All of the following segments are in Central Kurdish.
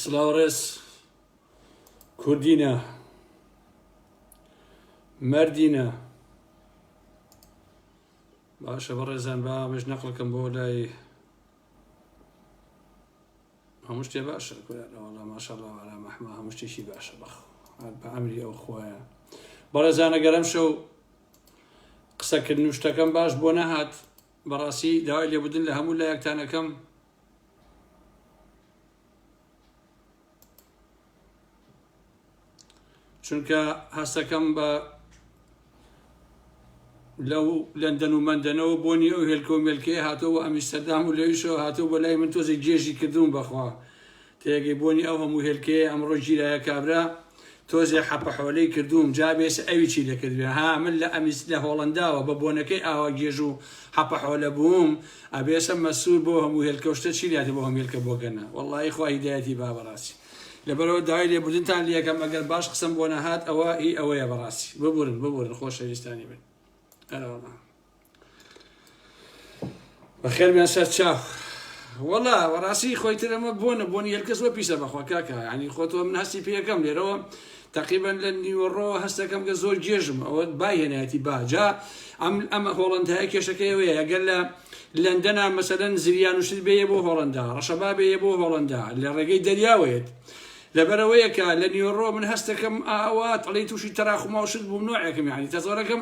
سلاو ڕێز کوردینە مردینە باشە بەڕێزان با مش نەقلەکەم بۆ لای هەموو شتێ باشە کوراەوەڵا ماشەڵا ئارا مەحما هەموو شتێکی باشە بەخ بە ئەمری ئەو خۆیان بەڕێزانە گەرم شەو قسەکردن و شتەکەم باش بۆ نەهات بەڕاستی داوای لێبودن لە هەموو لایەکتان ئەکەم. چونکە هەستەکەم بە لەو لەندەن و مەندەنەوە بۆنی ئەو هێلکۆ مێلکەیە هاتۆ بۆ ئەمیستەردام و لەویشەوە هاتۆ بۆ لای من تۆزێک گێژی کردوون بەخوا تێگەی بۆنی ئەو هەموو هێلکەیەی ئەمڕۆ گیرایە کابرا تۆزێ حەپە حۆلەی کردووم جا بێسە ئەوی چی دەکردبێ ها من لە ئەمیس لە هۆڵەنداوە بە بۆنەکەی ئاوا گێژ و حەپە حۆلە بووم ئەبێسە مەسور بۆ هەموو هێلکەو شتە چی لاتێ بۆ هەموو هێلکە بۆگەنە وەڵاهی خوا هیدایەتی با بەڕاستی لەبەرەوە داوای لێبوردنتان لەکەم ئەگەر باش قسەم بۆ نەهات ئەوە هی ئەوەیە بەڕاستی ببورن ببورن خۆشەویستانی من ئەرەوەڵا بەخێر بێن سەر چاو وەڵا وەڕاستی خۆی تر ئەمە بۆنە بۆنی هەرکەس وە پیسە بەخوا کاکە ینی خۆتەوە من هەستی پێەکەم لێرەوە تقریبان لە نیوەڕۆ هەستەکەم کە زۆر گێژم ئەوە بای هێنایەتی باجا ئەم ئەمە هۆڵندای کێشەکەیەوەیە ئەگەر لە لەندەنا مەسەدەن زریان وشت بێ بۆ هۆڵندا ڕەشەبا بێ بۆ هۆڵندا لە ڕێگەی دەریاوەیەت لەبەرەوەیەکە لە نیوەڕۆ من هەستەکەم ئاوات ئەڵی تووشی تەراخماوشت بوو نوعەکەم یعنی تەزۆرەکەم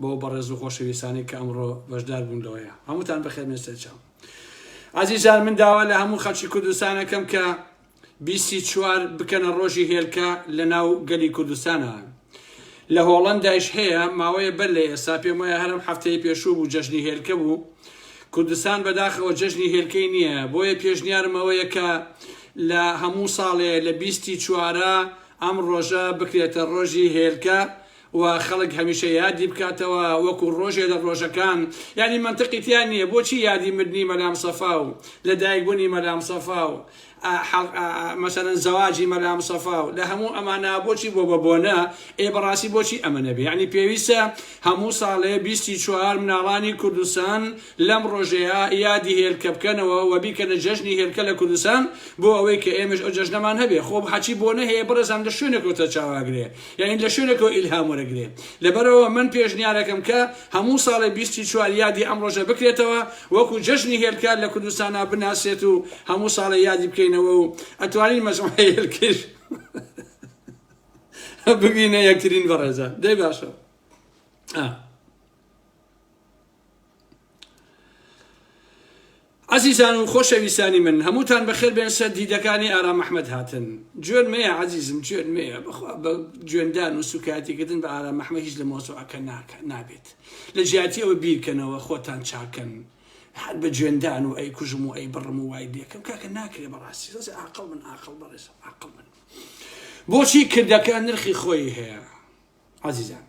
بەو بەڕێز و خۆشەویستانەی کە ئەمڕۆ بەشدار بوون لەوەیە هەمووتان بەخێر بێن سەرچاو ئازیزان من داوا لە هەموو خەڵکی کوردستانەکەم کە بیسی چوار بکەنە ڕۆژی هێلکە لە ناو گەلی کوردستانە لە هۆڵندایش هەیە ماوەیە بەر لە ئێستا پێم وایە هەرم هەفتەی پێشوو بوو جەژنی هێلکە بوو کوردستان بەداخەوە جەژنی هێلکەی نییە بۆیە پێشنیارمەوەیە کە لە هەموو ساڵێ لە بیستی چوارە ئەم ڕۆژە بکرێتە ڕۆژی هێلکە و خەڵک هەمیشە یادی بکاتەوە وەکو ڕۆژێ لە ڕۆژەکان یانی مەنتقی تیا نیە بۆچی یادی مردنی مەلام سەفا و لە دایک بونی مەلام سەفا و مەسەلەن زەواجی مەلام سەفا و لە هەموو ئەمانە بۆچی بۆ بە بۆنە ئێ بەڕاستی بۆچی ئەمە نەبێ یانی پێویستە هەموو ساڵێ بیستی چوار مناڵانی کوردستان لەم ڕۆژەیا یادی هێلکە بکەنەوە و بیکەنە جەژنی هێلکە لە کوردستان بۆ ئەوەی کە ئێمەش ئەو جەژنەمان هەبێ خۆ حەچی بۆنە هەیە بەڕێزان لە شوێنێکەوە سەرچاوە ئەگرێ یانی لە شوێنێکەوە ئیلهام وەرەگرێ لەبەرئەوە من پێشنیارەکەم کە هەموو ساڵێ بیست ی چوار یادی ئەم ڕۆژە بکرێتەوە وەکو جەژنی هێلکە لە کوردستانا بناسرێت و هەموو ساڵێ یادی بکەینەوە و ئەتوانین مەجموعەی هێلکەیش ببینە یەکترین بەڕێزان دەی باشە. عزیزان و خۆشەویستانی من هەمووتان بەخێر بێن سەر دیدەکانی ئارام ئەحمەد هاتن جوێن مەیە عزیزم جوێن مەیە بەخوا بە جوێندان و سوکایەتیکردن بە ئارام ئەحمەد هیچ لە مۆزوعەکە ناکە نابێت لە جیاتی ئەوە بیرکەنەوە خۆتان چاکەن هەر بە جوێندان و ئەی کوژم و ئەی بڕم و وای لێکم کاکە ناکرێ بەڕاستی ڕێز عقل من عقل بەڕێز عقل من بۆچی کردەکە نرخی خۆی هەیە عزیزان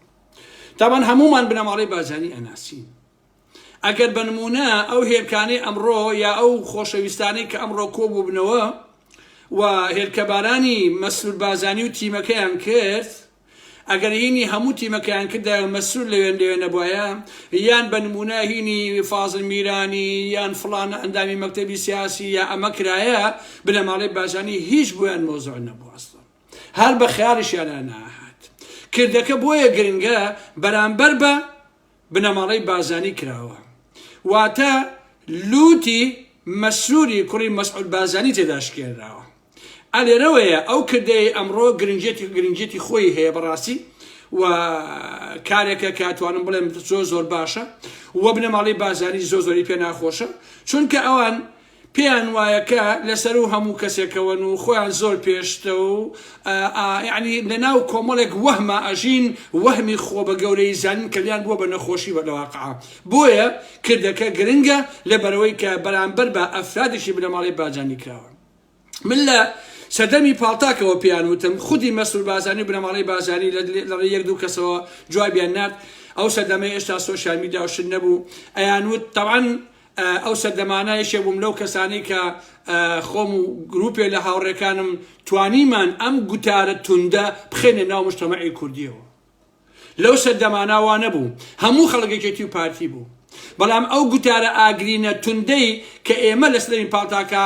تابان هەمومان بنەماڵەی بارزانی ئەناسین ئەگەر بە نمونە ئەو هێرکانەی ئەمڕۆ یا ئەو خۆشەویستانەی کە ئەمڕۆ کۆ بووبنەوە و هێرکەبارانی مەسرور بازانی و تیمەکەیان کرد ئەگەر هینی هەموو تیمەکەیان کردە مەسرور لەوێن لەوێ نەبواە یان بە نمونە هینی فازل میرانی یان فلان ئەندامی مەکتتەبی سیاسی یا ئەمە کرایە بنەماڵەی بازانی هیچ بۆیان مۆزۆ نەبوو ئەسڵ هەر بە خەیاڵیشیانا ناهات. کردەکە بۆیە گرنگە بەرامبەر بە بنەماڵەی بازانی کراوە. واتە لووتی مەسروری کوڕی مەسعود بازانی تێدا شکێنراوە. ئەلێرەوەیە ئەو کردەیە ئەمڕۆ گرنجێتی گرنجێتی خۆی هەیە بەڕاستی و کارێکە کاتوانم بڵێم زۆر زۆر باشە و بنەماڵی بازانی زۆ زۆری پێ ناخۆشە چونکە ئەوان پێیان وایە کە لە سەروو هەموو کەسێکەوەن و خۆیان زۆر پێشتە و ئا یەعنی لە ناو کۆمەڵێک وەهما ئەژین وەهمی خۆ بە گەورەیی زانین کە لیان بووە بە نەخۆشی بە لە واقعا بۆیە کردەکە گرنگە لە بەرەوەی کە بەرامبەر بە ئەفرادێکی بنەماڵەی باجانی کراوە من لە سەردەمی پاڵتاکەوە پێیان وتم خودی مەسرور بازانی و بنەماڵەی بازانی لە لە ڕێ یەک دوو کەسەوە جوابیان نارد ئەو سەردەمەی ئێشتا سۆشیال میدیا و شت نەبوو ئەیان وت تەوان ئەو سەردەمانە یەکێک بووم لەو کەسانەی کە خۆم و گروپێ لە هاوڕێکانم توانیمان ئەم گوتارە توندە بخێنە ناو مشتەمەعی کوردیەوە لەو سەردەمانە وا نەبوو هەموو خەڵکێکێتی و پارتی بوو بەڵام ئەو گوتارە ئاگرینە توندەی کە ئێمە لەسەرین پاڵتاکە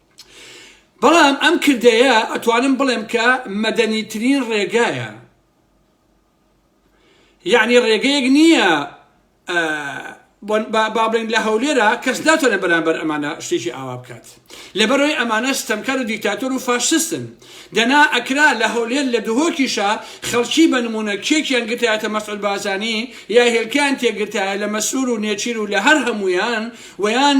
بەڵام ئەم کردەیە ئەتوانم بڵێم کە مەدەنیترین ڕێگایە یعنی ڕێگەیەک نییە بابلین لە هەولێرە کەس ناتوانێت بەرامبەر ئەمانە شتێکی ئاوا بکات لەبەرەوەی ئەمانە ستەمکار و دیکتاتۆر و فاشستن دەنا ئەکرا لە هەولێر لە دهۆکیشە خەڵکی بە نمونە کێکیان گرتایەتە مەسعود بازانی یا هێلکان تێگرتایە لە مەسرور و نێچیر و لە هەر هەمویان ویان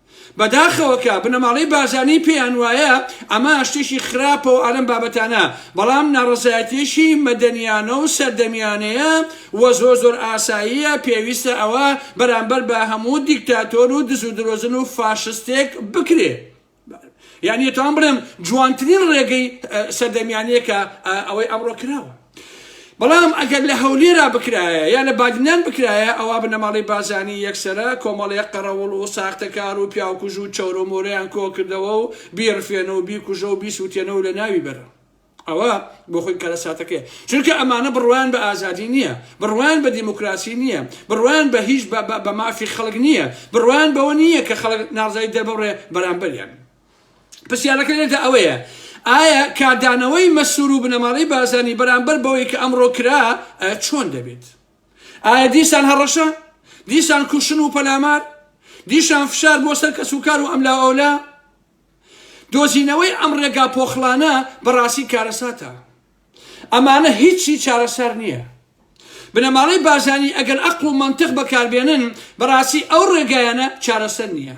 بەداخەوە کە بنەماڵەی بارزانی پێیان وایە ئەمە شتێکی خراپە و ئالەم بابەتانە بەڵام ناڕەزایەتیەکی مەدەنیانە و سەردەمیانەیە و زۆر زۆر ئاساییە پێویستە ئەوە بەرامبەر بە هەموو دیکتاتۆر و دز و درۆزن و فاشستێک بکرێ یانی ئەتوان بڵێم جوانترین ڕێگەی سەردەمیانەیە کە ئەوەی ئەمڕۆ کراوە. بەڵام ئەگەر لە هەولێرا بکرایە یا لە بادینان بکرایە ئەوا بنەماڵەی بازانی یەکسەرە کۆمەڵێک قەڕەوڵ و ساختەکار و پیاوکوژ و چەورو مۆرەیان کۆکردەوە و بیڕفێنە و بیکوژە و بیسوتێنە و لە ناوی بەرە ئەوە بۆ خۆی کارەساتەکەی چونکە ئەمانە بڕوان بە ئازادی نییە بڕوان بە دیموکراسی نییە بڕوان بە هیچ بە مافی خەڵک نییە بڕوان بەوە نییە کە خەڵک ناڕزای دەربڕێ بەرامبەریان پرسیارەکە لێرەدا ئەوەیە ئایا کاردانەوەی مەسرور و بنەماڵەی بارزانی بەرامبەر بەوەی کە ئەمڕۆ کرا چۆن دەبێت ئایا دیسان هەڕەشە دیسان کوشن و پەلامار دیشان فشار بۆ سەر کەس و کار و ئەملا ئەولا دۆزینەوەی ئەم ڕێگا پۆخڵانە بەڕاستی کارەساتە ئەمانە هیچی چارەسەر نیە. بنەماڵەی بارزانی ئەگەر ئەقڵ و مەنتق بەکاربێنن بەڕاستی ئەو ڕێگایانە چارەسەر نیە.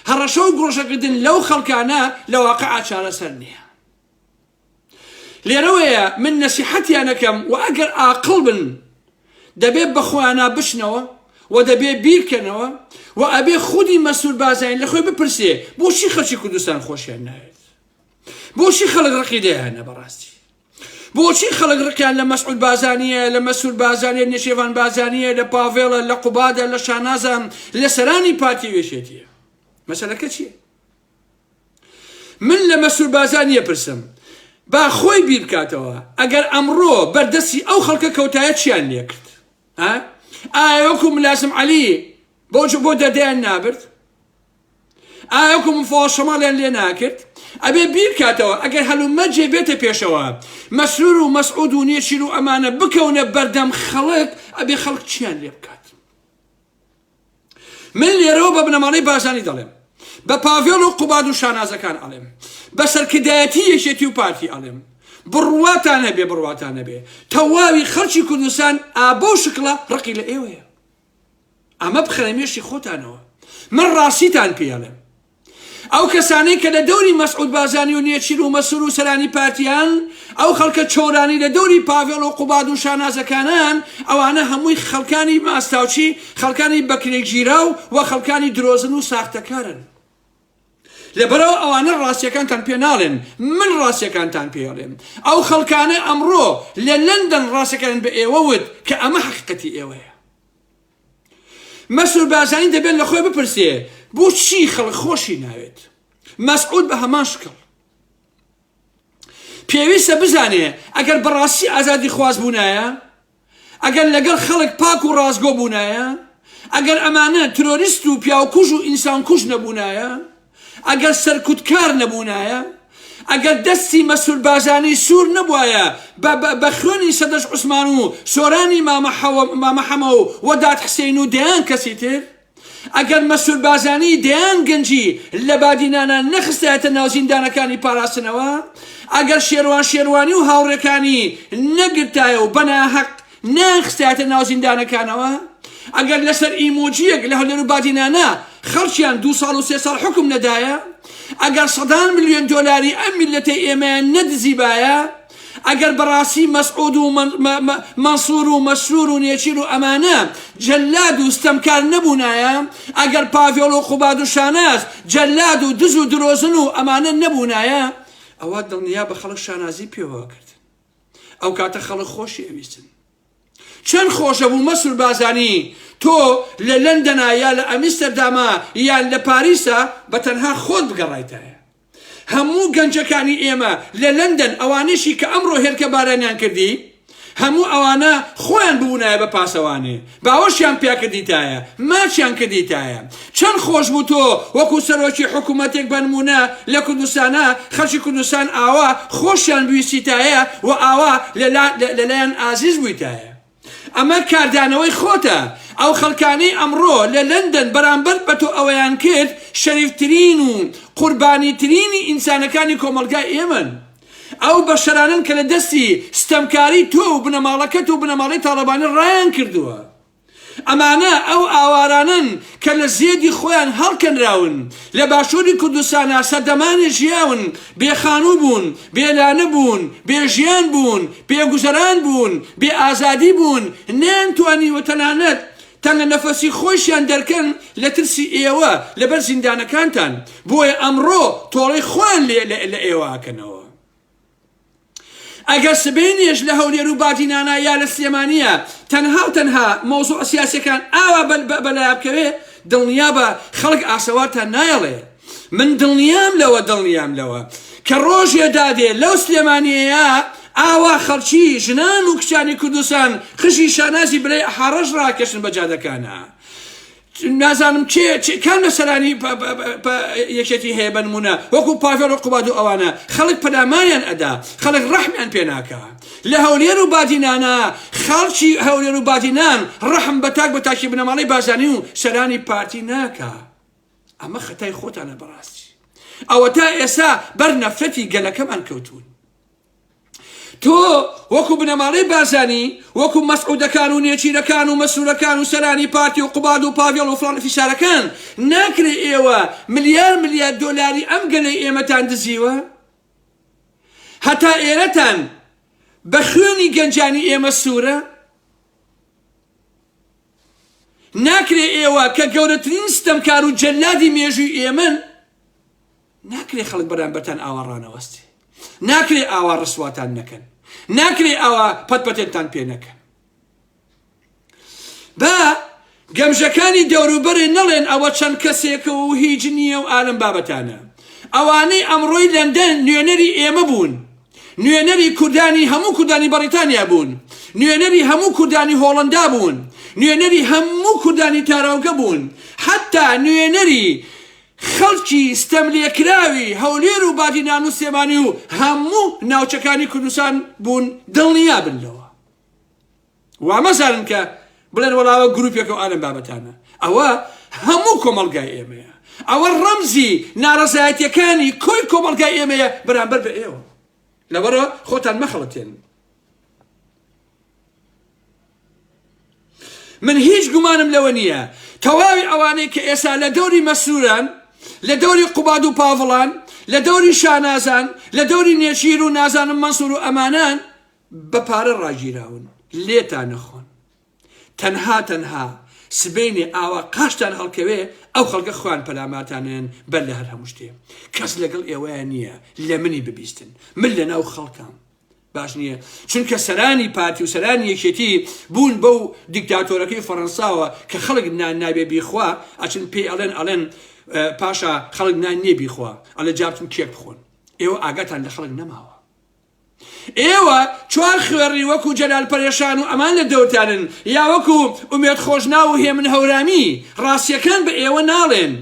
هەڕەشە و گڕۆژەکردن لەو خەڵکانە لە واقعا چارەسەر نیە. لێرەوەیە من نەسیحەتیان ئەکەم و ئەگەر ئاقڵ بن دەبێ بەخۆیانا بچنەوە و دەبێ بیرکەنەوە و ئەبێ خودی مەسرور بارزانی لەخۆی بپرسێ بۆچی خەڵکی کوردستان خۆشیان ناوێت؟ بۆچی خەڵک ڕقی دەیانە بەڕاستی بۆچی خەڵک ڕقیان لە مەسعود بازانیە لە مەسول بازانێت نشێوان بازانیە لە پاڤێڵە لە قوبادە لە شانازان لە سەرانی پارتی وێشێتیە مەسەلەکە چیە من لە مەسول بازانیە پرسم با خۆی بیر بکاتەوە ئەگەر ئەمڕۆ بەردەستی ئەو خەڵکە کەوتایە چیان لێ کرد ئایا وەکو ملازم علی بۆ بۆ دەدەیان نابرد ئایا ئەو کەم و فۆڵەشەماڵیان لێ ناکرد؟ ئەبێ بیرکاتەوە ئەگەر هەلومەرجێ بێتە پێشەوە مەسرور و مەسعود و نێچیر و ئەمانە بکەونە بەردەم خەڵک ئەبێ خەڵک چیان لێ بکات من لێرەوە بە بنەماڵەی بارزانی دەڵێم بە پاڤێڵ و قوباد و شانازەکان ئەڵێم بە سەرکردایەتی یەکێتی و پارتی ئەڵێم بڕواتان هەبێ بڕواتان هەبێ تەواوی خەڵکی کوردستان ئابە و شکڵە ڕقی لە ئێوەیە ئەمە بخەنە مێشی خۆتانەوە من ڕاستیتان پێ ئەڵێم ئەو کەسانەی کە لە دەوری مەسعود بازانی و نێچیر و مەسور و سەرانی پارتیان ئەو خەڵکە چۆرانی لە دەوری پاڤێڵ و قوباد و شانازەکانان ئەوانە هەمووی خەڵکانی ماستاوچی خەڵکانی بەکرێگیراو و خەڵکانی درۆزن و ساختەکارن لەبەرئەوە ئەوانە ڕاستیەکانتان پێ ناڵێن من ڕاستیەکانتان پێ ئەڵێم ئەو خەڵکانەی ئەمڕۆ لە لەندەن ڕاستەکانن بە ئێوە وت کە ئەمە حەقیقەتی ئێوەیە مەسرور بارزانی دەبێت لە خۆی بپرسێ بۆچی خەڵک خۆشی ناوێت مەسعود بە هەمان شکڵ پێویستە بزانێ ئەگەر بەڕاستی ئازادی خواز بوونایە ئەگەر لەگەڵ خەڵک پاک و ڕاستگۆ بوونایە، ئەگەر ئەمانە ترۆریست و پیاوکوژ و ئینسانکوژ نەبوونایە، ئەگەر سەرکوتکار نەبوونایە، ئەگەر دەستی مەسروربازانی سوور نەبوایە بە بە بە خوێنی سەدەش عوسمان و سۆرانی مامە حەوە مامە حەمە و وەدات حسین و دەیان کەسی تر، ئەگەر مەسرور بارزانی دەیان گەنجی لە بادینانە نەخستایەتە ناو زیندانەکانی پاراستنەوە، ئەگەر شێروان شێروانی و هاوڕێکانی نەگرتایە و بەناهەق نەیانخستایەتە ناو زیندانەکانەوە، ئەگەر لەسەر ئیمۆجییەک لە هەولێر و بادینانە خەڵکیان دوو ساڵ و سێ ساڵ حوکم نەدایە، ئەگەر سەدان ملیۆن دۆلاری ئەم میللەتەی ئێمەیان نەدزیبایە، ئەگەر بەڕاستی مەسعود و مەنسور و مەسرور و نێچیر و ئەمانە جەلاد و ستەمکار نەبوونایە ئەگەر پاڤێڵ و قوباد و شاناز جەلاد و دز و درۆزن و ئەمانە نەبوونایە ئەوە دڵنیا بە خەڵک شانازی پێوە کرد ئەو کاتە خەڵک خۆشی ئەویستن چەند خۆشە بوو مەسور بازانی تۆ لە لەندەنا یا لە ئەمیستەرداما یان لە پاریسا بە تەنها خۆت بگەڕایتایە هەموو گەنجەکانی ئێمە لە لەندەن ئەوانەشی کە ئەمڕۆ هێلکە بارانیان کردی هەموو ئەوانە خۆیان ببوونایە بە پاسەوانێ باوەشیان پیاکردیتایە ماچیان کردیتایە چەند خۆش بوو تۆ وەکو سەرۆکی حکوومەتێک بەنمونە لە کوردستانە خەڵکی کوردستان ئاوا خۆشیان بویستیتایە و ئاوا لەلایەن ئازیز بوویتایە ئەمە کاردانەوەی خۆتە، ئەو خەڵکانەی ئەمڕۆ لە لەندەن بەرامبەر بە تۆ ئەوەیان کرد شەریفترین و قوربانیترینی ئینسانەکانی کۆمەڵگای ئێمەن. ئەو بەشەرانەن کە لە دەستی ستەمکاری تۆ و بنەماڵەکەت و بنەماڵەی تاڵەبانی ڕایانکردووە. ئەمانە ئەو ئاوارانەن کە لە زێدی خۆیان هەڵکەنراون، لە باشووری کوردستانا سەردەمانێ ژیاون، بێ خانوو بوون، بێ لانە بوون، بێ ژیان بوون، بێ گوزەران بوون، بێ ئازادی بوون، نەیانتوانیوە تەنانەت تەنگە نەفەسی خۆیشیان دەرکەن لە ترسی ئێوە لە بەر زیندانەکانتان، بۆیە ئەمڕۆ تۆڵەی خۆیان لە ئێوە ئەکەنەوە. ئەگەر سبەینێش لە هەولێر و بادینانە یا لە سلێمانیە تەنها و تەنها مەوزوع سیاسیەکان ئاوا بەلایابکەوێ دڵنیا بە خەڵک ئاسەوارتان نایەڵێ من دڵنیام لەوە دڵنیام لەوە کە ڕۆژێ دادێ لەو سلێمانیەیە ئاوا خەڵکی ژنان و کچانی کوردستان خشی شانازی برای حاڕەش ڕاکەشن بە جادەکانە نازانم کێ چ کام لە سەرانی پە پە پە پە یەکێتی هەیە بە نموونە وەکو پاڤێڵ و قوباد و ئەوانە خەڵک پەلاماریان ئەدا خەڵک ڕەحمیان پێ ناکا لە هەولێر و بادینانە خەڵکی هەولێر و بادینان ڕەحم بە تاک بە تاکی بنەماڵەی بارزانی و سەرانی پارتی ناکا ئەمە خەتای خۆتانە بەڕاستی ئەوە تا ئێستا بەر نەفرەتی گەلەکەمان کەوتون تۆ وەکو بنەماڵەی بارزانی وەکو مەسعودەکان و نێچیرەکان و مەسرورەکان و سەرانی پارتی و قوباد و پاڤێڵ و فڵان فیسارەکان ناکرێ ئێوە ملیار ملیار دۆلاری ئەم گەلەی ئێمەتان دزیوە هەتا ئێرەتان بە خوێنی گەنجانی ئێمە سوورە ناکرێ ئێوە کە گەورەترین ستەمکار و جەلادی مێژووی ئێمەن ناکرێ خەڵک بەرامبەرتان ئاوا ڕانەوەست. ناکرێ ئاوا ڕسواتان نەکەن. ناکرێ ئاوا پەت پەتێنتان پێ نەکەن. با گەمژەکانی دەوروبەرێ نەڵێن ئەوە چەند کەسێکە و هیچ نییە و ئالم بابەتانە. ئەوانەی ئەمڕۆی لەندەن نوێنەری ئێمە بوون. نوێنەری کوردانی هەموو کوردانی بەڕیتانیا بوون. نوێنەری هەموو کوردانی هۆڵەندا بوون. نوێنەری هەموو کوردانی تاراوگە بوون. حەتا نوێنەری خەڵکی ستەملێکراوی هەولێر و بادینان و سلێمانی و هەموو ناوچەکانی کوردستان بوون دڵنیا بن لەوە وا مەزانن کە بڵێن وەڵاوە گروپێکە و ئالم بابەتانە ئەوە هەموو کۆمەلگای ئێمەیە ئەوە ڕەمزی ناڕزایەتەکانی کۆی کۆمەلگای ئێمەیە بەرامبەر بە ئێوە لەبەرە خۆتان مەخەڵەتێن من هیچ گومانم لەوە نییە تەواوی ئەوانەی کە ئێستا لە دەوری مەسروران لە دەوری قوباد و پاڤڵان لە دەوری شانازان لە دەوری نێچیر و نازانم مەسور و ئەمانان بە پارە ڕاگیراون لێتان نەخۆن تەنها تەنها سبینێ ئاوا قاشتان هەڵکەوێ ئەو خەڵکە خوان پەلاماتانێن بەر لە هەر هەموو شتێ کەس لەگەڵ ئێوەیە نییە لە منی ببیستن من لە ناو خەڵکان باش نییە چونکە سەرانی پارتی و سەرانی یەکێتی بوون بەو دیکتاتۆرەکەی فەڕەنساوە کە خەڵک نان نابێ بیخوا ئەچن پێی ئەڵێن ئەڵێن پاشا خەڵک نان نییە بیخوا ئەلە جابتن کێک بخۆن ئێوە ئاگاتان لە خەڵک نەماوە ئێوە چوار خوێڕی وەکو جەلال پەرێشان و ئەمان لە دەوتانن یا وەکو ئومێت خۆشنا و هێمن هەورامی ڕاستیەکان بە ئێوە ناڵێن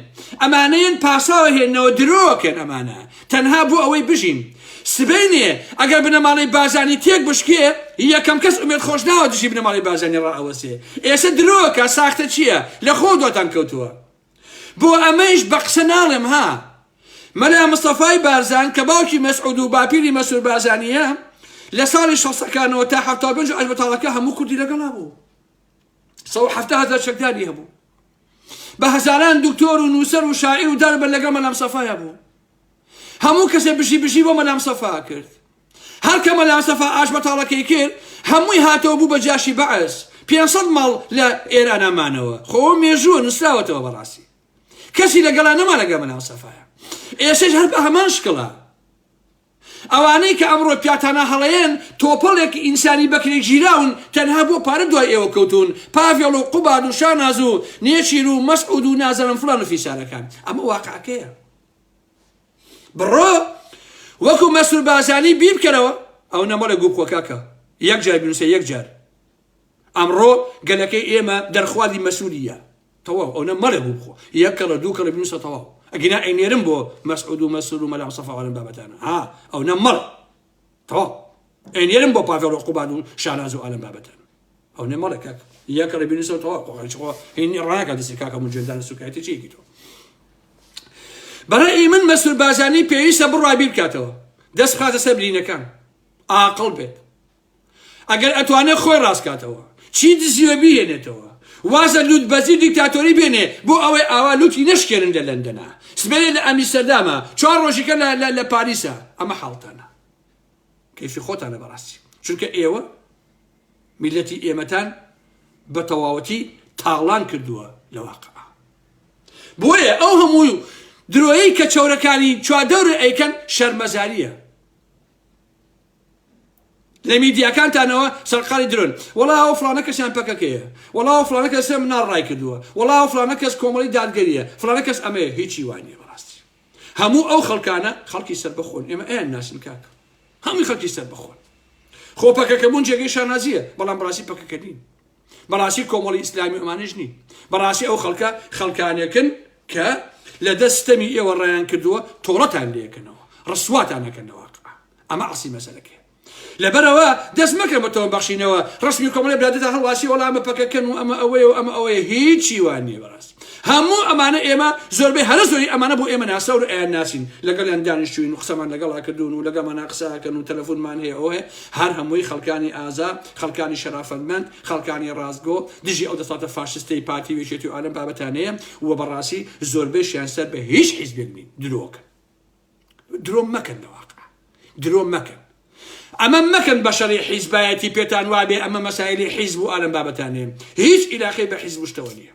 ئەمانەیەن پاساوە هێنەوە درۆکەن ئەمانە تەنها بۆ ئەوەی بژین. سبەینێ ئەگەر بنەماڵەی بارزانی تێک بشکێ یەکەم کەس ئومێد خۆشناوە دژی بنەماڵەی بارزانی ڕائەوەسێ ئێسە درۆکە ساختە چیە لە خۆو دواتان کەوتووە بۆ ئەمەیش بە قسە ناڵێم ها مەلا مستەفای بارزان کە باوکی مەسعود و باپیری مەسور بارزانیە لە ساڵی شەسەکانەوە تا حەفتا پێنج عەش بەتاڵەکە هەموو کوردی لەگەڵا بوو سەو حەفتا هەزار چەکداری هەبوو بە هەزاران دکتۆر و نووسەر و شاعیر و دار بە لەگەڵ مەلام سەفایا بوو هەموو کەسێ بژی بژی بۆ مەلام سەفا کرد هەر کە مەلام سەفا ئاش بەتاڵەکەی کرد هەمووی هاتەوە بوو بە جاشی بەعس 500 ماڵ لە ئێرانا مانەوە خۆ مێژووە نووسراوەتەوە بەڕاستی کەسی لەگەڵا نەما لەگە مەلام سەفایا ئێسش هەر بە هەمان شکڵە ئەوانەی کە ئەمڕۆ پیاتانا هەڵەیەن تۆپەڵێک ئینسانی بەکرێ گیراون تەنها بۆ پارە دوای ئێوە کەوتوون پاڤێڵ و قوباد و شاناز و نێچیر و مەسعود و نازەنم فڵان و فیسارەکان ئەمە واقعەکەیە بڕۆ وەکو مەسرور بازانی بیبکەرەوە ئەو نەمەڵێ گوو بخۆ کاکە یەک جار بنووسە یەک جار ئەمڕۆ گەلەکەی ئێمە دەرخوازی مەسولیە تەواو ئەونە مەڵێ گوو بخۆ یەک کەڵە دوو کەڵە بنووسە تەواو ئەگینا ئەینێرم بۆ مەسعود و مەسرور و مەلا سەفا ئەم بابەتانە ها ئەونە مەڵ تەواو ئەینێرم بۆ پاڤێڵ و قوباد و شاناز و ئالم بابەتان ئەونە مەڵێ کاک یەک کەڵە بنووسە تەواو قۆقەڵ چخۆ هین ڕاکە دەستی کاکە مجێدان سوکایەتی چیەکی تۆ بەڕێ من مەسور بازانی پێویستە بڕای بیرکاتەوە دەست خاتە سەر برینەکان ئاقل بێت ئەگەر ئەتوانێ خۆی ڕاستکاتەوە چی دزیوە بیهێنێتەوە وازە لوت بەزی دیکتاتۆری بێنێ بۆ ئەوەی ئاوا لوتی نەشکێنن لە لەندەنا سبێنێ لە ئەمیستەردامە چوار ڕۆژیکە لە پاریسە ئەمە حاڵتانە کەیفی خۆتانە بەڕاستی چونکە ئێوە میلەتی ئێمەتان بە تەواوەتی تاڵان کردووە لە واقع بۆیە ئەو هەموو درۆیی کە چەورەکانی چوادەورە ئەیکەن شەرمەزاریە لە میدیاکانتانەوە سەرقالی درۆن وەڵا ئەو فڵانە کەسیان پەکەکەیە وەڵا ئەو فڵانە کەسە مناڵ ڕای کردووە وەڵا ئەو فڵانە کەس کۆمەڵی دادگەریە فڵانە کەس ئەمەیە هیچی وا نییە بەڕاستی هەموو ئەو خەڵکانە خەڵکی سەربەخۆن ئێمە ئەیان ناسین کاک هەمووی خەڵکی سەربەخۆن خۆ پەکەکە بوون جێگەی شانازیە بەڵام بڕاستی پەکەکە نین بەڕاستی کۆمەڵی ئیسلامی ئەمانش نین بەڕاستی ئەو خەڵکە خەڵکانێکن کە لە دەستەمی ئێوە ڕایان کردووە تۆڵەتان لەکەنەوە ڕسواتان نەکەنەوە ئەمە ئەسی مەسەلەکە لەبەرەوە دەست مەکەن بە تۆم بەخشینەوە ڕسمی کۆمەڵی براددا هەڵواسی وەڵامە پەکەکەن و ئەمە ئەوەیە و ئەمە ئەوەیە هیچی وان نیە بەڕاست هەموو ئەمانە ئێمە زۆربەی هەرە زۆری ئەمانە بۆ ئێمە ناسەور ئەیان ناسین لەگەڵیان دانیشتوین و قسەمان لەگەڵا کردوون و لەگەمانە قساکەن و تەلەفۆنمان هەیە ئەوەیە هەر هەمووی خەڵکانی ئازا، خەڵکانی شەرافەتمەند، خەڵکانی ڕاستگۆ، دژی ئەو دەسەڵاتە فاشستەی پارتی و یەکێتی و ئالەم بابەتانەیە و بەڕاستی زۆربەیشیان سەر بە هیچ حیزبێک نین. درۆکەن. درۆ مەکەن لە واقع. درۆ مەکەن. ئەمە مەکەن بە شەڕی حیزبایەتی پێتان وابێ ئەمە مەسایلی حیزب و ئالەم بابەتانەیە. هیچ ئیلاقەی بە حیزب و شتەوە نییە.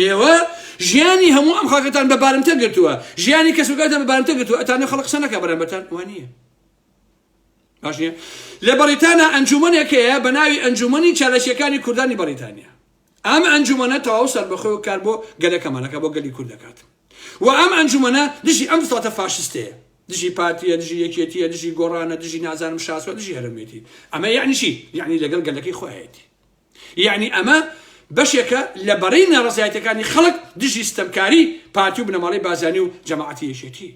ئێوە ژیانی هەموو ئەم خاکەتان بە بارمتە گرتووە ژیانی کەسوکاتە بە بارمتە گرتووە ئەتانە خەڵک قسە نەکە بەرامبەتان وە نییە باش نیە لە بەڕیتانە ئەنجومەنێک هەیە بە ناوی ئەنجومەنی چالەشیەکانی کوردانی بەڕیتانیا ئەم ئەنجومەنە تەواو سەربەخۆ و کار بۆ گەلەکەمانەکە بۆ گەلی کورد دەکات و ئەم ئەنجومەنە دژی ئەم ساتە فاشستەیە دژی پارتیە دژی یەکێتیە دژی گۆڕانە دژی نازانم شاسوە دژی هەرمێتی ئەمە یعنیشی یعنی لەگەڵ گەلەکەی خۆیەتی یعنی ئەمە بەشێکە لە بەرەی ناڕزایەتەکانی خەڵک دژی ستەمکاری پارتی و بنەماڵی بازانی و جەماعەتی یەکێتی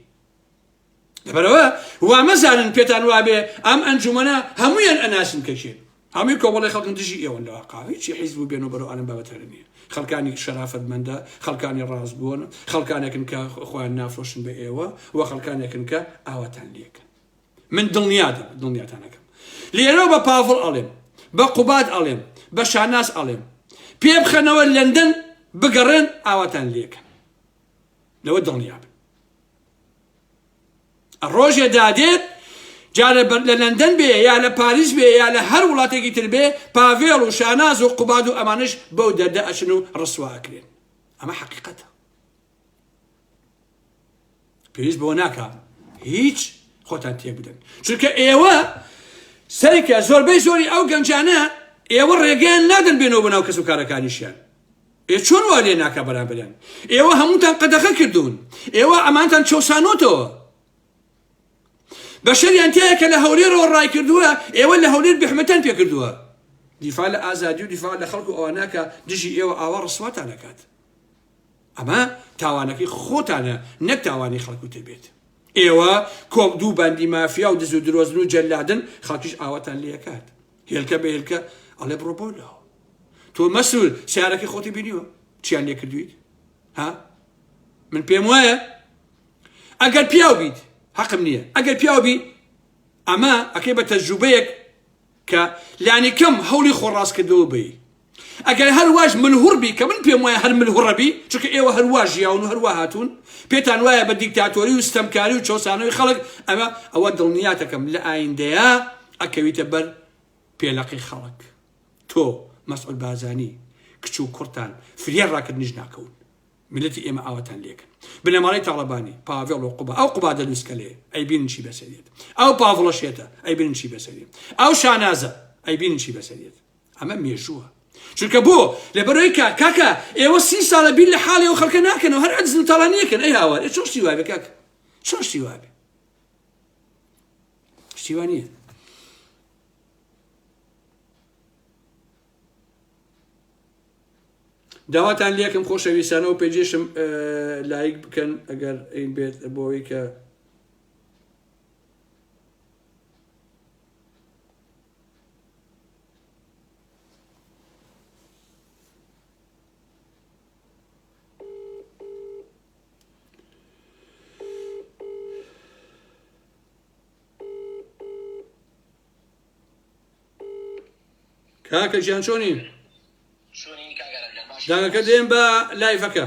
لەبەرەوە وامەزانن پێتان وابێ ئەم ئەنجومەنە هەمویان ئەناسم کەکێن هەمووی کۆمەڵی خەڵکن دژی ئێوەن لە واقعویی حیزب و بێن و بەرەوانم بابەتە نیە خەڵکانی شەرافەتمەندە خەڵکانی ڕاست بوون خەڵکانێکن کە خۆیان نافرۆشن بە ئێوە و خەڵکانێکن کە ئاواتان لەکەن من دڵنیا دەم دڵنیاتان ئەکەم لێرەوە بە پاڤڵ ئەڵێم بە قوباد ئەڵێم بە شاناز ئەڵێم پێ بخەنەوە لەندەن بگەڕێن ئاواتان لێکەن لەوە دڵنیا بن ڕۆژێ دادێت جارە بەر لە لەندەن بێ یا لە پاریس بێ یا لە هەر وڵاتێکی تر بێ پاڤێڵ و شاناز و قوباد و ئەمانش بەو دەردە ئەچن و ڕسواکرێن ئەمە حقیقەتە پێویست بەوە ناکا هیچ خۆتان تێبدەن چونکە ئێوە سەرکە زۆربەی زۆری ئەو گەنجانە ئێوە ڕێگەیان نادەن بێنەوە بەناو کەس و کارەکانیشیان ئێ چۆن وا لێ ناکە بەرامبەریان ئێوە هەمووتان قەدەغە کردوون ئێوە ئەمانتان چەسانۆتەوە بەشەریان تایە کە لە هەولێرەوە ڕای کردووە ئێوە لە هەولێر بحمەتەن پێ کردووە دیفاع لە ئازادی و دیفاع لە خەڵکو ئەواناکە دژی ئێوە ئاوا ڕسواتان دەکات ئەمە تاوانەکەی خۆتانە نەک تاوانی خەڵک و تەبێت ئێوە کۆم دوو باندی مافیا و دز و درۆزن و جەلادن خەڵکیش ئاواتان لەکات هێلکە بە هێلکە ئەڵێ بڕۆ بۆ لەوە تۆ مەسول سیارەکەی خۆتی بینیوە چیان لێ کردویت ها من پێم وایە ئەگەر پیاو بیت حەقم نییە ئەگەر پیاو بی ئەمە ئەکەی بە تەجوبەیەک کە لانی کەم هەولی خۆڕاستکردەوە بی ئەگەر هەر واش ملهوڕ بی کە من پێم وایە هەر ملهوڕە بی، چونکە ئێوە هەر وا ژیاون و هەر وا هاتوون، پێتان وایە بە دیکتاتۆری و ستەمکاری و چەوسانەوەی خەڵک ئەوە، ئەوە دڵنیات ئەکەم لە ئایندەیا ئەکەویتە بەر پێلەقی خەڵک. تۆ، مەسعود بارزانی، کچ و کوڕتان فریای ڕاکردنیش ناکەون. میللەتی ئێمە ئاواتان لێکن. بنەماڵەی تاڵەبانی، پاڤێڵ و قوباد، ئەو قوبادە لوسکەلەیە، ئەیبینن چی بەسەریەت. ئەو پاڤڵە شێتە، ئەیبینن چی بەسەریەت. ئەو شانازە، ئەیبینن چی بەسەریەت. ئەمە مێژووە چونکە بۆ لەبەرەوەی کاک کاکە ئێوە سی ساڵە بیر لە حاڵی ئەو خەڵکە ناکەنەوە هەر ئەجز و تاڵانیەکەن ئەی هاوار ئێ چۆن شتی وابێ کاک چۆن شتی وابێ شتی وا نییە داواتان لەکەم خۆشەویستانە و پێجێشم لایک بکەن ئەگەر بێت بۆەوەی کە کاکە گیان چۆنی دەنگەکە دێن بە لایفەکە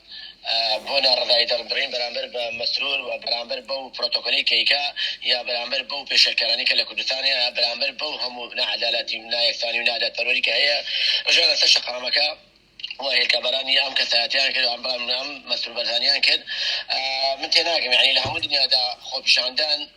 بۆ ناڕەزایی دەربڕین بەرامبەر بە مەسرور و بەرامبەر بەو پرۆتۆکۆلەی کەیکە یا بەرامبەر بەو پێشێلکارانەی کە لە کوردستان هەیە بەرامبەر بەو هەموو ناعەدالاتی و نایەکسانی و نادادپەروەری کە هەیە ڕژێ لە سەر شەقەڕەمەکە و هێلکەبەرانی ئەم کەسایەتیان کرد ئەم بەڵام ئەم مەسرور بەرزانیان کرد من تێناگەم یعنی لە هەموو دنیادا خۆپیشاندان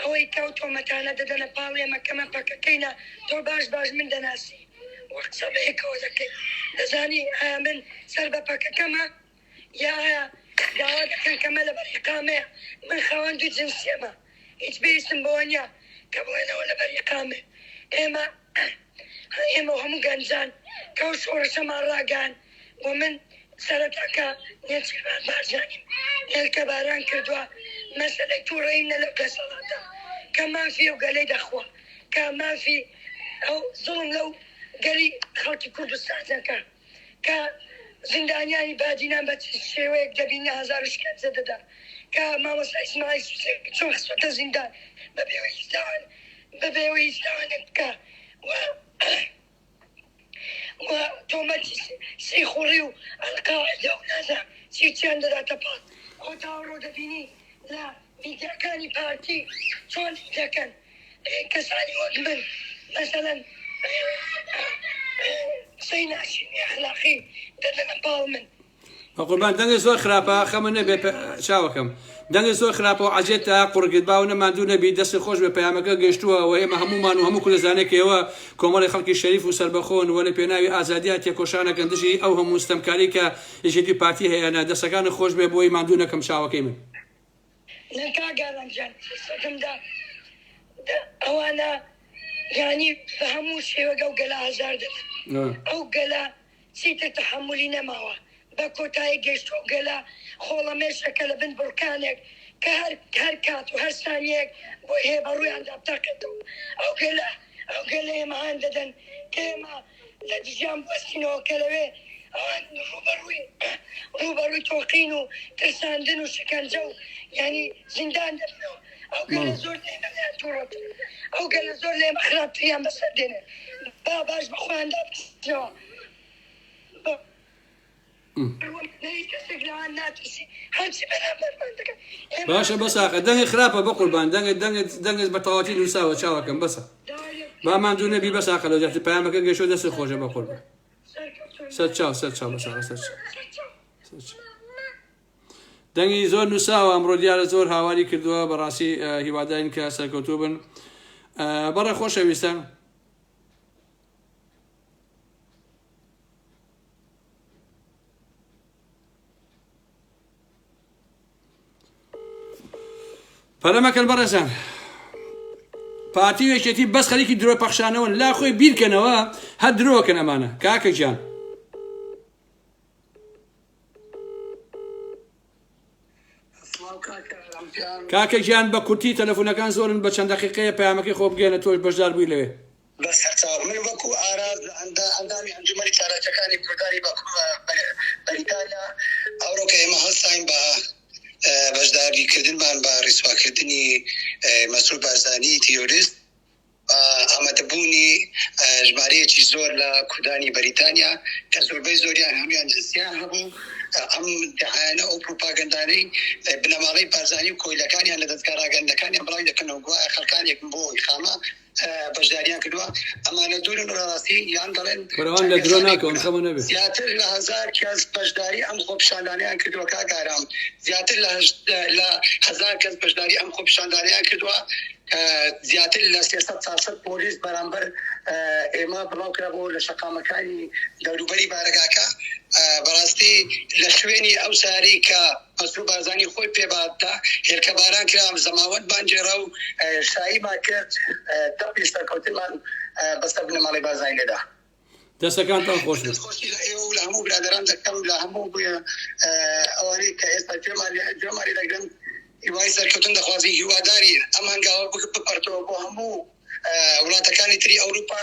ئەوەی کە ئەو تۆمەتانە دەدەنە پاڵ ئێمە کە من پەکەکەینە تۆ باش باش من دەناسی و قسە بەیەکەوە دەکەین دەزانی ئایا من سەر بە پەکەکەمە یا ئایا داوا دەکەن کەمە لە بەریقامەیە من خاوەن دوو جنسیەمە هیچ بێستم بەوە نیە کە بڵێنەوە لە بەریقامێ ئێمە ئەی ئێمە و هەموو گەنجان کە ئەو شۆڕشەمان ڕاگەیاند و من سەرەتا کە نێچیرڤان بارزانیم هێلکەباران کردوە، مەسەلەی توڕەییم نە لەو دەسەڵاتە کە مافی ئەو گەلەی دەخوا، کە مافی ئەو زوڵم لەو گەلی خەڵکی کوردستان دەکا. کە زیندانیانی بادینان بە چ شێوەیەک دەبیننە هەزار و شکەنجە دەدا کە مامۆستا ئیسماعیل سوسێک چۆن خستۆتە زیندان بەبێ ئەوەی هیچ تاوان بەبێ ئەوەی هیچ تاوانێک بکا و و تۆمەتی سیخوڕی و ئەلقاعیدە و نازانم چی چیان دەداتە پاڵ خۆ تاوەڕۆ دەبینی لە میدیاکانی پارتی چۆن دەکەن کەسانی وەک من مەسەلەن قسەی ناشرین ئەخلاقی دەدەنە پاڵ من. بەقوربان دەنگە زۆر خراپە خەمە نەبێ چاوەکەم دەنگە زۆر خراپە و عجێت تا قڕگت باو نە ماندوو نەبی دەست خۆش بە پەیامەکە گەشتووە و ئێمە هەمومان و هەموو کوردستانێکەوە کۆمەڵی خەڵکی شەریف و سەربەخۆن و لە پێناوی ئازادیا تێکۆشانەکەن دژی ئەو هەموو ستەمکاری کە یەکێتی پارتی هەیەە دەستەکان خۆش بێ بۆی ماندوو نەکەم چاوەکەی من نە کاک ئارام گیان سەگم دا دە ئەوانە یانی بە هەموو شێوەک ئەو گەلە ئازار دەدەن ئەو گەلە چیتر تەحەمولی نەماوە بە کۆتایی گەشت و گەلە خۆڵەمێشەکە لە بن بڕکانێک کە هەر هەر کات و هەر سانیەک بۆی هەیە بە ڕوویاندا بتەقێتەوە ئەو گەلە ئەو گەلە ئێمە هان دەدەن کە ئێمە لە دژیان بوەستینەوە کە لەوێ ئەوان ڕووبەڕووی ڕووبەڕووی تۆقین و ترساندن و شەکەنجە و یانی زیندان دەبن و ئەو گەلە زۆر لێمەیان تووڕەتر ئەو گەلە زۆر لێمە خراپتریان بەسەر دێنێ با باش بە خۆیان دابەستنەوە بۆ باشە بەس ئاخە دەنگی خراپە بە قوربان دەنگت دەنگت دەنگت بە تەواتی نووساوە چاوەکەم بەسە با ماندوو نەبی بەس ئاخە لە جاتی پامەکە گەشۆ دەست خۆشە بە قوربان سەر چاو سەر چاو بەسا سەر دەنگی زۆر نووساوە ئەمڕۆ دیارە زۆر هاواری کردووە بەڕاستی هیواداین کە سەرکەوتو بن بەڕێ خۆشەویستە پەلە مەکەن بەڕێزان پارتی و یەکێتی بەس خەریکی درۆ پەخشانەوەن لا خۆی بیرکەنەوە هەر درۆکەن ئەمانە کاکە گیان کاکە گیان بە کورتی تەلەفۆنەکان زۆرن بە چەند دقیقەیە پامەکەی خۆ بگەێنە تۆش بەشدار بووی لەوێ بەس هەتا من وەکو ئاراس لە ئەندا ئەندامی ئەنجومەنی چالاکیەکانی کوردانی بە کوردە بە بەریتانیا ئەوڕۆ کە ئێمە هەستاین بە بەشداری کردنمان بە ڕیسوا کردنی مەسرور بارزانی تیرۆریست ئامادەبوونی ژمارەیەکی زۆر لە کوردانی بەریتانیا کە زۆربەی زۆریان هەمیان جنسیان هەبوو ئەم دعایانە ئەو پروپاگەندانەی بنەماڵەی بارزانی و کۆیلەکانیان لە دەستگا ڕاگەندەکانیان بڵاوی دەکەنەوە گوایە خەڵکانێکم بۆ ئیقامە بەشداریان کردووە ئەمانە دوورن ڕاستی یان دەڵێن بەرەوان لە درۆ ناکەون خەمە نەبێت زیاتر لە هزار کەس بەشداری ئەم خۆپشاندانیان کردووە کاگارام زیاتر لە لە هزار کەس بەشداری ئەم خۆپشاندانیان کردووە زیاتر لە سێسەد ساسەد پۆلیس بەرامبەر ئێمە بڵاو کرا بۆ لە شەقامەکانی دەوروبەری بارەگاکە بەڕاستی لە شوێنی ئەو ساری کە قەسرو بارزانی خۆی پێ بادتا هێلکە باران کرا زەماوەند مان گێرا و شایی مان کرد دەقی سەرکەوتن مان بە سەر بنەماڵەی بارزانی لێدا. دەستەکانتان خۆش بێت. دەستخۆشی لە ئێوە و لە هەموو برادەران دەکەم لە هەموو ئەوانەی کە ئێستا گوێمانی دەگرن هیوای سەرکەوتن دەخوازین هیوادارین ئەم هەنگاوە بپەرتەوە بۆ هەموو وڵاتەکانی تری ئەوروپا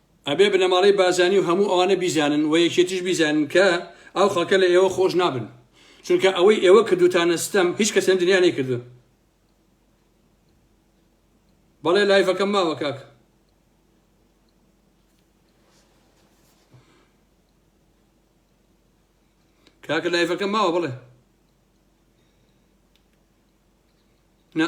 ئەبێ بنەماڵەی بارزانی و هەموو ئەوانە بیزانن و یەکێتیش بیزانن کە ئەو خەڵکە لە ئێوە خۆش نابن چونکە ئەوەی ئێوە کردوتانە ستەم هیچ کەس لەم دنیا نەیکردوون بەڵێ لایڤەکەم ماوە کاک کاکە لایفەکە ماوە بڵێ نە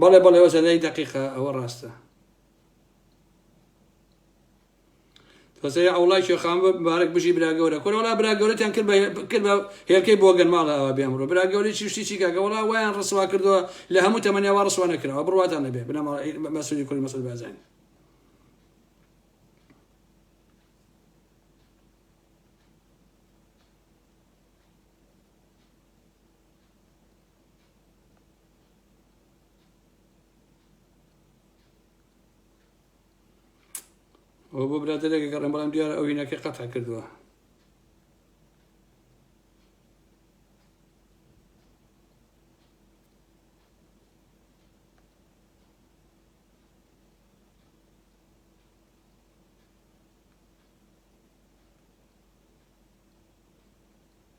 بەڵێ بەڵێ وەزە لای دقیقە ئەوە ڕاستە تۆزەوی ئەوڵای شێخان بارک بژی براگەورە کۆرەڵا براگەورەتیان کرد کرد بە هێلکەی بۆگەن ماڵەوە بێمڕۆ براگەوری چشتی چی کاگەوەڵا وایان ڕسوا کردووە لە هەموو تەمەنیاوا ڕسوا نەکراوە بڕواتان نەبێ بنەماڵ مەسولی کوری مەسل بازین ئەو بۆ برادێکە گەڕێن بەڵام دیارە ئەو هینەکە قەتع کردووە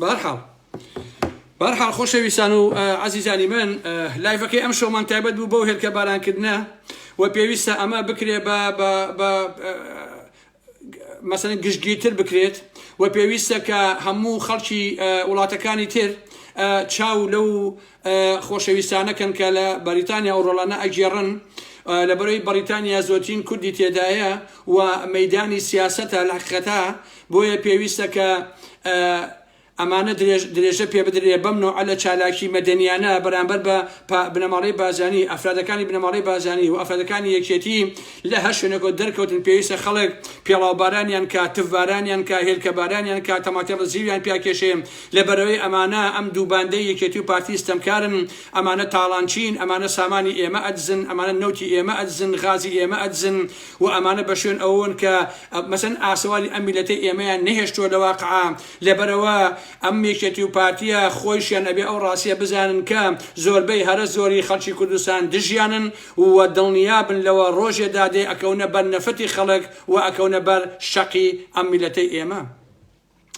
بەهەرحاڵ بەهەرحاڵ خۆشەویستان و عەزیزانی من لایڤەکەی ئەم شەومان تایبەت بوو بەو هێلکە بارانکردنە و پێویستە ئەمە بکرێ بە مەسەن گشتگیرتر بکرێت و پێویستە کە هەموو خەڵکی وڵاتەکانی تر چاو لەو خۆشەویستانەکەن کە لە بەریتانیا و ڕۆڵانە ئەگێڕن لە بەرەی بەریتانیا زۆتین کوردی تێدایە و مەدانی سیاسەتە لە حقەتە بۆیە پێویستە کە ئەمانە درێژە پێ بدرێ بەم نەوعە لە چالاکی مەدەنیانە بەرامبەر بە بنەماڵەی بازانی ئەفرادەکانی بنەماڵەی بازانی و ئەفرادەکانی یەکێتی لە هەر شوێنەکەوت دەرکەوتن پێویستە خەڵک پێڵاوبارانیان کا تفبارانیان کا هێلکەبارانیان کا تەماتێڵە زیویان پیاکێشێ لە بەرەوەی ئەمانە ئەم دوو باندەی یەکێتی و پارتی ستەمکارن ئەمانە تاڵانچین ئەمانە سامانی ئێمە ئەدزن ئەمانە نەوتی ئێمە ئەدزن غازی ئێمە ئەدزن وە ئەمانە بەشوێن ئەوەوەن کە مەسەن ئاسەواری ئەم میلەتەی ئێمەیان نەهێشتوە لەواقع لەبەرئەوە ئەم یەکێتی و پارتیە خۆیشیان ئەبێ ئەو ڕاستیە بزانن کە زۆربەی هەرە زۆری خەڵکی کوردستان دژیانن و دڵنیابن لەوە ڕۆژێ دادێ ئەکەونە بەر نەفرەتی خەڵک و ئەکەونە بەر شەقی ئەم میلەتەی ئێمە.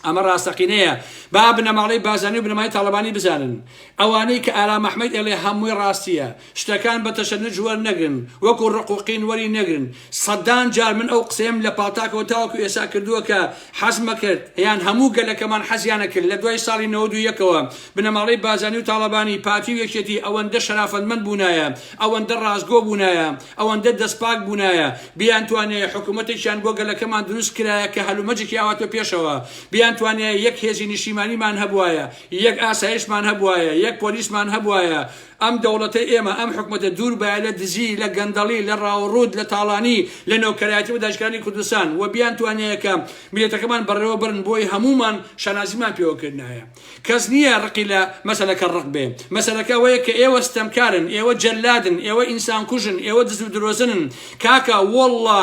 ئەمە ڕاستەقینەیە با بنەماڵەی بازانی و بنەمای تاڵەبانی بزانن ئەوانەی کە ئارام ئەحمەد ئێڵێ هەمووی ڕاستیە شتەکان بە تەشەنج وەرنەگرن وەکو ڕق و قین وەری نەگرن سەدان جار من ئەو قسەیەم لە پاڵتاکەوە تاوەکو ئێسا کردووە کە حەزمەکرد یان هەموو گەلەکەمان حەزیانە کرد لە دوای ساڵی نەوەد و یەکەوە بنەماڵەی بازانی و تاڵەبانی پارتی و یەکێتی ئەوەندە شەرافەتمەند بوونایە ئەوەندە ڕاستگۆ بوونایە ئەوەندە دەستپاک بوونایە بیانتوانیایە حکوومەتێکیان بۆ گەلەکەمان دروست کرایە کە هەلومەجێکی ئاواتۆ پێشەوە، بیانتوانیایە یەک هێزی نیشتیمانیمان هەبووایە، یەک ئاسایشمان هەبووایە، یەک پۆلیسمان هەبووایە، ئەم دەوڵەتەی ئێمە، ئەم حکوومەتە دوور بایە لە دزی، لە گەندەڵی، لە ڕاوڕووت، لە تاڵانی، لە نۆکەرایەتی بۆ داگیرکەرانی کوردستان و بیانتوانیایە کە میللەتەکەمان بەڕێوە بەرن، بۆی هەموومان شانازیمان پێوە کردنایە. کەس نییە ڕقی لە مەسەلەکە ڕق بێ. مەسەلەکە ئەوەیە کە ئێوە ستەمکارن، ئێوە جەللادن، ئێوە ئینسان کوژن، ئێوە دز و درۆزنن. کاکە وەڵڵا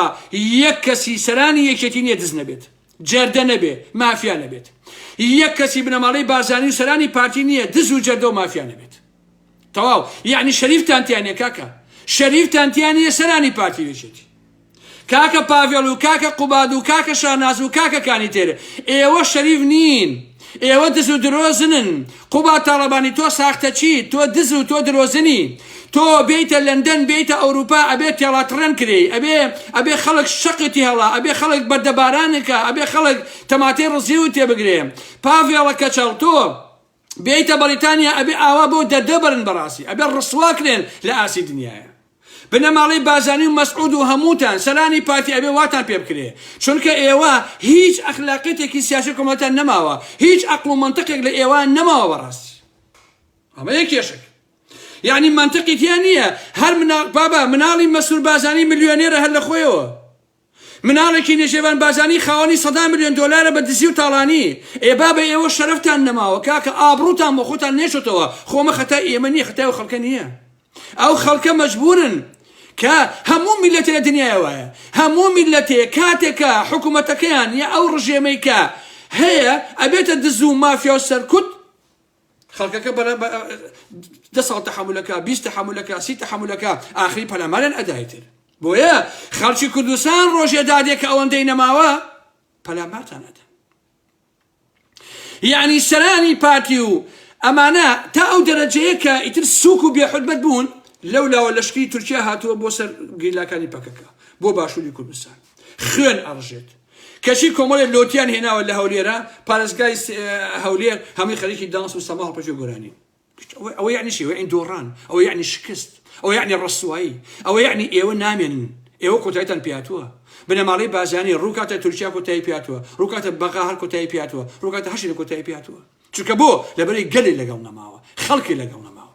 یەک کەسی سەرانی یەکێتی نییە دز نەبێت، جەردە نەبێ، مافیا نەبێت. یەک کەسی بنەماڵەی بارزانی و سەرانی پارتی نییە دز و جەردە و مافیا نەبێت. تەواو یعنی شەریفتان تیانە کاکە شەریفتان تیانە سەرانی پارتی وێچێتی کاکە پاڤێڵ و کاکە قوباد و کاکە شاناز و کاکە کانی تێرە ئێوە شەریف نین ئێوە دز و درۆزنن قوبا تاڵەبانی تۆ ساختە چی تۆ دز و تۆ درۆزنی تۆ بێیتە لەندەن بێیتە ئەوروپا ئەبێ تێڵاتڕێن کرێ ئەبێ ئەبێ خەڵک شەقتی هەڵا ئەبێ خەڵک بەردەبارانەکە ئەبێ خەڵک تەماتەی ڕزیوت تێبگرێ پاڤێڵە کەچەڵ تۆ بێیتە بەڕیتانیا ئەبێ ئاوا بۆ دەردە بەرن بەڕاستی ئەبێ ڕسوا کرێن لە ئاستی دنیایە بنەماڵەی بازانی و مەسعود و هەمووتان سەرانی پارتی ئەبێ واتان پێ بکرێ چونکە ئێوە هیچ ئەخلاقیتێکی سیاسی کۆمەڵتان نەماوە هیچ ئەقڵ و منطقێک لە ئێوە نەماوە بەڕاستی ئەمە یەک کێشک یعنی منطقی تیا نییە هەر منا... بابا مناڵی مەسرور بازانی ملیۆنێرە هەر لە خۆیەوە مناڵێکی نێشێڤان بارزانی خاوەنی سەدان ملیۆن دۆلارە بە دزی و تاڵانی ئێ بابە ئێوە شەرەفتان نەماوە کاکە ئابڕوتان بۆ خۆتان نێشتەوە خۆمە خەتای ئێمە نیە خەتای ئەو خەڵکە نیە ئەو خەڵکە مەجبورن کە هەموو میلەتێ لە دنیای وایە هەموو میلەتێ کاتێکە حکومەتەکەیان یا ئەو ڕژێمەی کە هەیە ئەبێتە دز و مافیا و سەرکوت خەڵکەکە بەرە بە دە ساڵ تەحملەکە بیست تەحملەکە سی تەحملەکە ئاخری پەلاماریان ئەدایتر بۆیە خەڵکی کوردستان ڕۆژێ دادێک کە ئەوەندەی نەماوە پەلامارتان ئەدا یعنی سەرانی پارتی و ئەمانە تا ئەو دەرەجەیە کە ئیتر سوک و بێحرمەت بوون لەو لاوە لەشکری تورکیا هاتووە بۆ سەر گریلاکانی پەکەکە بۆ باشووری کوردستان خوێن ئەڕژێت کەچی کۆمەڵێ لۆتیان هێناوە لە هەولێرە پارێزگای هەولێر هەمووی خەریکی دانس و سەما هەڵپەچێ گۆرانین ئەوە یعنی چی ئەوە یعنی دۆڕان ئەوە یعنی شکست ئەوە یعنی ڕسوایی ئەوە یعنی ئێوە نامێنن ئێوە کۆتایتان پیاتوە بنەماڵەی بازانی ڕووکاتە تورکیا کۆتایی پیاتوە ڕووکاتە بەغا هەر کۆتایی پیاتوە ڕووکاتە هەشی لە کۆتایی پیاتوە چونکە بۆ لەبەری گەلی لەگەڵ نەماوە خەڵکی لەگەڵ نەماوە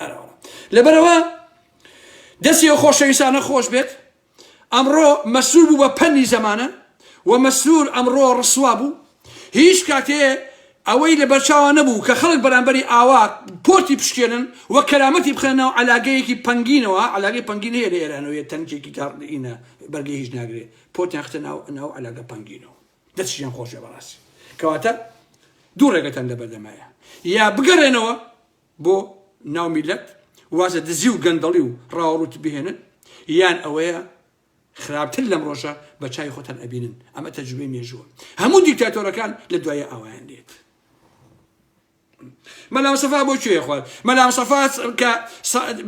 ئەرەوە لەبەرەوە دەستی و خۆشەویستانە خۆش بێت ئەمڕۆ مەسرور بوو بە پەنی زەمانە و مەسرور ئەمڕۆ ڕسوا بوو هیچ کاتێ ئەوەی لە بەرچاوان نەبوو کە خەڵک بەرامبەری ئاوا پۆتی پشکێنن و کەرامەتی بخەنە و علاگەیەکی پنگینەوە علاگەی پنگین هەیە لە ئێرانەوەیە تەنکێکی گاڕدینە بەرگی هیچ ناگرێ پۆتیان ختە ناو ناو علاگە پنگینەوە دەستیان خۆشە بەڕاستی کەواتە دوو ڕێگەتان لە بەردەمایە یا بگەڕێنەوە بۆ ناو میلەت وازە دزی و گەندەڵی و ڕاوەڕووتی بهێنن یان ئەوەیە خراپتر لەم ڕۆژە بە چاوی خۆتان ئەبینن ئەمە تەجروبەی مێژووە هەموو دیکتاتۆرەکان لە دوایە ئاوایان دێت مەلام سەفا بۆ کوێ خوارد مەلام سەفا کە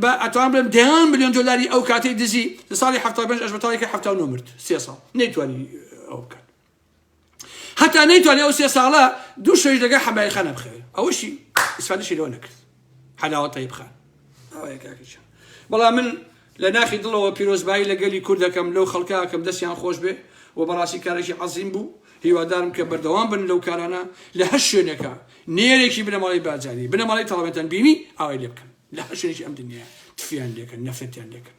بە ئەتوان بڵێم دەیان میلیۆن دلاری ئەو کاتەی دزی لە ساڵی هەفتا پێنج ئەش بەتاڵێکی هەفتا نۆ مرد سێ ساڵ نەیتوانی ئەو بکات هەتا نەیتوانی ئەو سێ ساڵە دوو شەویش لەگەڵ حەمای خان نەبخەوێ ئەوەشی ئیسفادەشی لەوە نەکرد حەلاوە تەیب خان ئەوەیە کاکەچە بەڵام من لە ناخی دڵەوە پیرۆزبایی لە گەلی کورد دەکەم لەو خەڵکاکەم دەستیان خۆش بێ و بەڕاستی کارێکی عەزیم بوو هیوادارم کە بەردەوام بن لەو کارانە لە هەر شوێنێکە نێرێکی بنەماڵی بارزانی بنەماڵی تەڵەبێتان بینی ئاوای لێ بکەن لە هەر شوێنێکی ئەم دنیا تفیان لێکەن نەفرەتیان لێکەن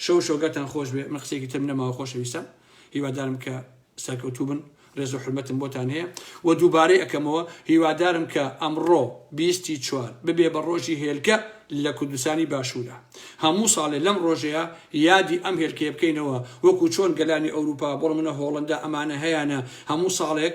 شەو شۆگەرتان خۆش بێ من قسەیەکی ترم نەماوە خۆشەویستان هیوادارم کە سەرکەوتوو بن ڕێز و حرمەتم بۆتان هەیە و دووبارەی ئەکەمەوە هیوادارم کە ئەمڕۆ بیستی چوار ببێ بە ڕۆژی هێلکە لە کوردستانی باشوورە هەموو ساڵێ لەم ڕۆژەیە یادی ئەم هێلکەیە بکەینەوە وەکو چۆن گەلانی ئەوروپا بۆڵ منە هۆڵندا ئەمانە هەیانە هەموو ساڵێک